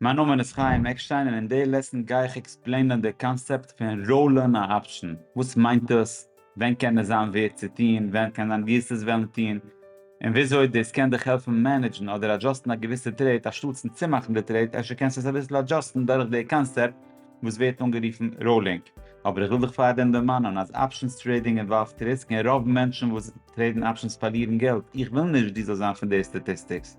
מיין נאמען איז חיים עקשטיין און אין די לעסן גיי איך עקספלעינען די קאנסעפט פון ראולן א אפשן, וואס מיינט עס, ווען קען עס זיין ווערט צו טון, ווען קען זיין גיסט עס וועלן טון, און וויאזוי דאס קען דיך העלפן מענעדזשן אדער אדזשאסטן א געוויסע טרעיט אנשטאטסן צומאכן די טרעיט, אפשר קענסטו עס אביסל אדזשאסטן דורך די קאנסעפט וואס ווערט אנגערופן ראולינג, אבער איך וויל דיך פארדעם דערמאנען אז אפשנס טרעידינג אינוואלווט ריסק און רוב מענטשן וואס טרעידן אפשנס פארלירן געלט, איך וויל נישט דו זאלסט זיין פון די סטאטיסטיקס.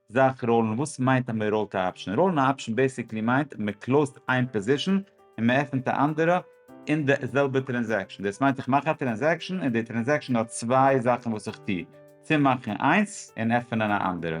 זאך ראלן, וואס מיינט אז מען ראלט א אפשן? ראלן א אפשן בעסיקלי מיינט מען קלאוזט איין פאזישן און מען עפענט א אנדערע אין די זעלבע טרענזעקשן, דאס מיינט איך מאך א טרענזעקשן און די טרענזעקשן האט צוויי זאכן וואס איך טו, צומאכן איינס און עפענען א אנדערע.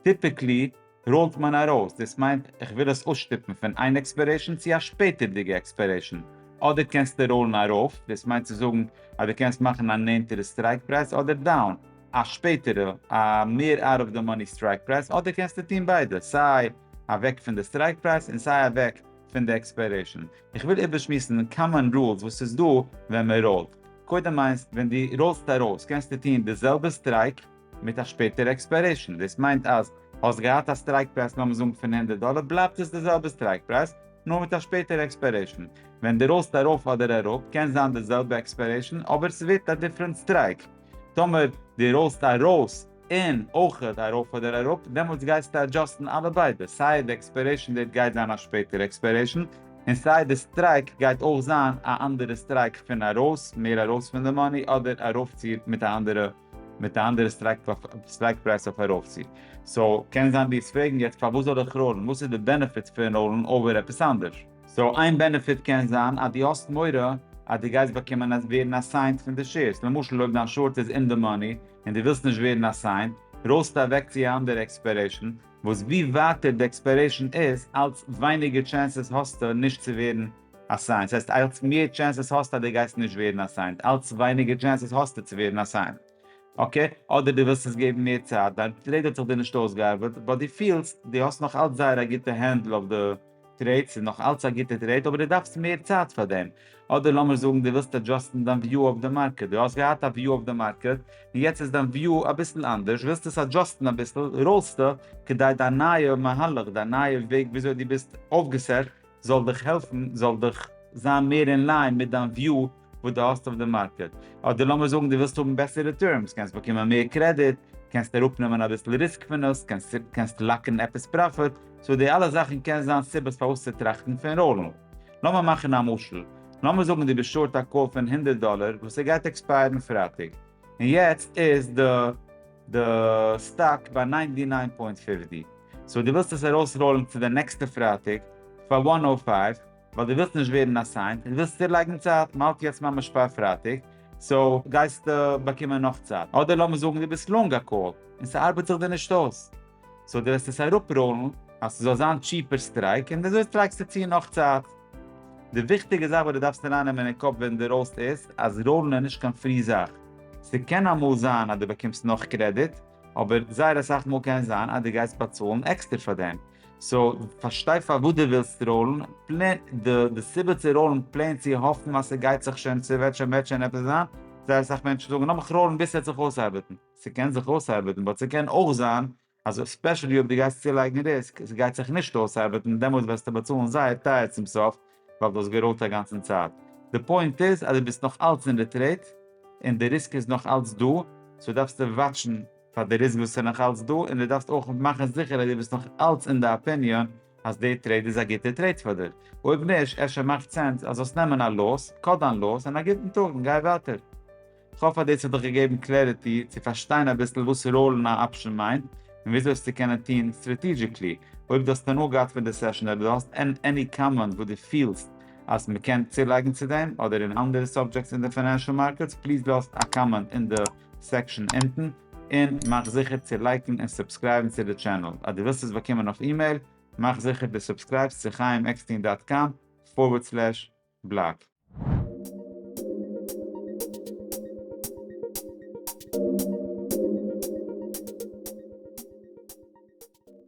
טיפיקלי ראלט מען ארויס, דאס מיינט איך וויל עס אויסשטופן פון איין עקספיירעישן צו א שפעטערדיגע עקספיירעישן, אדער קענסטו ראלן ארויף, דאס מיינט צו זאגן אז דו קענסט מאכן א נענטערע סטרייק פרייז אדער דאון. א שפעטערע א מער אוט אוו די מאני סטרייק פרייז אדער קענסטו טון ביידע סיי אוועק פון די סטרייק פרייז און סיי אוועק פון די עקספיירעישאן. איך וויל איבערשמועסן קאמאן רולס וואס איז דא ווען מען ראולט. קודם איינס ווען דו ראולסט ארויס קענסטו טון די זעלבע סטרייק מיט א שפעטערע עקספיירעישאן דאס מיינט אז האסט געהאט א סטרייק פרייז לאמיר זאגן פון הונדערט דאלער בלייבט עס די זעלבע סטרייק פרייז נאר מיט א שפעטערע עקספיירעישאן. ווען דו ראולסט ארויף אדער אראפ קען זיין די זעלבע עקספיירעישאן אבער סווערט א דיפרענט סטרייק. טאמער די ראלסט ארויס און אויכעט ארויף אדער אראפ דעמאלטס גייסטו אדזשאסטן אלע ביידע סיי די עקספיירעישן דעיט גייט זיין א שפעטערע עקספיירעישן און סיי די סטרייק גייט אויך זיין א אנדערע סטרייק פון ארויס מער ארויס פון די מאני אדער ארויפציר מיט א אנדערע מיט א אנדערע סטרייק פרייז אויף ארויפציר סאו קען זיין די וועסט פרעגן יעצט פארוואס זאל איך ראלן וואס איז די בענעפיטס פון ראלן אויבער עפעס אנדערש. סאו איין בענעפיט קען זיין אז דו האסט מורא אז דו גייסט באקומען אז ווערן אסיינט פון די שעירס, למשל אויב דיין שארט איז אין די מאני און דו ווילסט נישט ווערן אסיינט, רויסטו אוועק צו א אנדערע עקספיירעישן, וואס ווי ווייטער די עקספיירעישן איז אלץ ווייניגער טשענסעס האסטו נישט צו ווערן אסיינט, ס'הייסט אלץ מער טשענסעס האסטו אז דו גייסט נישט ווערן אסיינט, אלץ ווייניגער טשענסעס האסטו צו ווערן אסיינט. אקעי, אדער דו ווילסט עס געבן מער צייט, דיין טרעיד האט זיך דיר נישט אויסגעארבעט, באט דו פילסט דו האסט נאך אלץ זייער א גוטע הענדל אויף די תירץ איז נאך אלץ א גוטע טרעיד אבער דו דארפסט מער צייט פאר דעם. אדער לאמיר זאגן דו ווילסט אדזשאסטן דיין וויו אויף די מארקעט, דו האסט געהאט א וויו אויף די מארקעט און יעצט איז דיין וויו אביסל אנדערש, ווילסט עס אדזשאסטן אביסל, רולסטו כדי דיין נייע מהלך, דיין נייע וועג וויאזוי דו ביסט אויפגעסעט זאל דיך העלפן, זאל דיך זיין מער אין ליין מיט דיין וויו. וואס דו האסט אויף די מארקעט, אדער לאמיר זאגן דו ווילסט האבן בעסערע טערמס, קענסט באקומען מער קרעדיט, קענסט אראפנעמען אביסל ריסק פון עס, קענסט לאקן עפעס פראפיט, סאו די אלע זאכן קען זיין סיבות פארוואס צו טראכטן פון ראלן. לאמיר מאכן א משל, לאמיר זאגן דו ביסט שארט א קאל פון הונדערט דאלער וואס ער גייט עקספייערן פרייטאג, און יעצט איז די די סטאק ביי ניינטי ניין פוינט פֿופֿציק, סאו דו ווילסט עס ארויסראלן צו די נעקסטע פרייטאג פאר וואן נאו פייוו, ווייל דו ווילסט נישט ווערן אסיינט, און דו ווילסט צולייגן צייט, מ'האלט יעצט ממש פאר פרייטאג, סאו גייסטו באקומען נאך צייט. אדער לאמיר זאגן דו ביסט לאנג א קאל, און ס'ארבעט זיך דיר נישט אויס, סאו דו וועסט עס אראפראלן אז ס'זאל זיין טשיפער סטרייק, און אזוי סטרייקסטו צו נאך צייט. די וויכטיגע זאך וואס דו דארפסט ארייננעמען אין קאפ ווען דו ראלסט איז, אז ראלן איז נישט קיין פרי זאך. ס'קען אמאל זיין אז דו באקומסט נאך קרעדיט, אבער זייער אסאך מאל קען זיין אז דו גייסט באצאלן עקסטער פאר דעם. סאו פארשטיי פארוואס דו ווילסט ראולן פלען, די סיבה צו ראולן פלען צו האפן אז ס'גייט זיך שוין, ס'וועט שוין וועט שוין עפעס זיין, זייער אסאך מענטשן זאגן לאמיך ראולן ביז ס'וועט זיך אויסארבעטן, ס'קען זיך אויסארבעטן באט ס'קען אויך זיין אז עספעשעלי אויב דו גייסט צולייגן ריסק, ס'גייט זיך נישט אויסארבעטן און דעמאלטס וועסטו באצאלן זייער טייער צום סוף ווייל דו האסט געראולט א גאנצן צייט. די פוינט איז אז דו ביסט נאך אלץ אין די טרעיד און די ריסק איז נאך אלץ דא, סאו דארפסטו וואטשן. פאר די ריסק וואס איז נאך אלץ דא, און דו דארפסט אויך מאכן זיכער אז דו ביסט נאך אלץ אין די אפיניאן אז די טרעיד איז א גוטע טרעיד פאר דיר. אויב נישט, אפשר מאכט סענס אז זאלסט נעמען א לאס, קאט דיין לאס, און א גוטן טאג און גיי ווייטער. כ'האף אז דאס האט דיך געגעבן קלעריטי צו פארשטיין אביסל וואס ראלן א אפשן מיינט, און וויאזוי עס צו קענען טון סטראטעגיעקלי. אויב דו האסט הנאה געהאט פון די סעשן אדער דו האסט עני קאמענט וואס דו פילסט אז מ'קען צולייגן צו דעם אדער אין אנדערע סאבדזשעקטס אין די פיינענשאל מארקעטס, פליז לאז א קאמענט אין די. סעקשאן אונטן, און מאך זיכער צו לייקן און סובסקרייבן צו די טשענעל, אז דו ווילסט עס באקומען אויף אימעיל, מאך זיכער דו סובסקרייבסט צו חיים עקסטין דאט קאם פארווערד סלעש בלאג.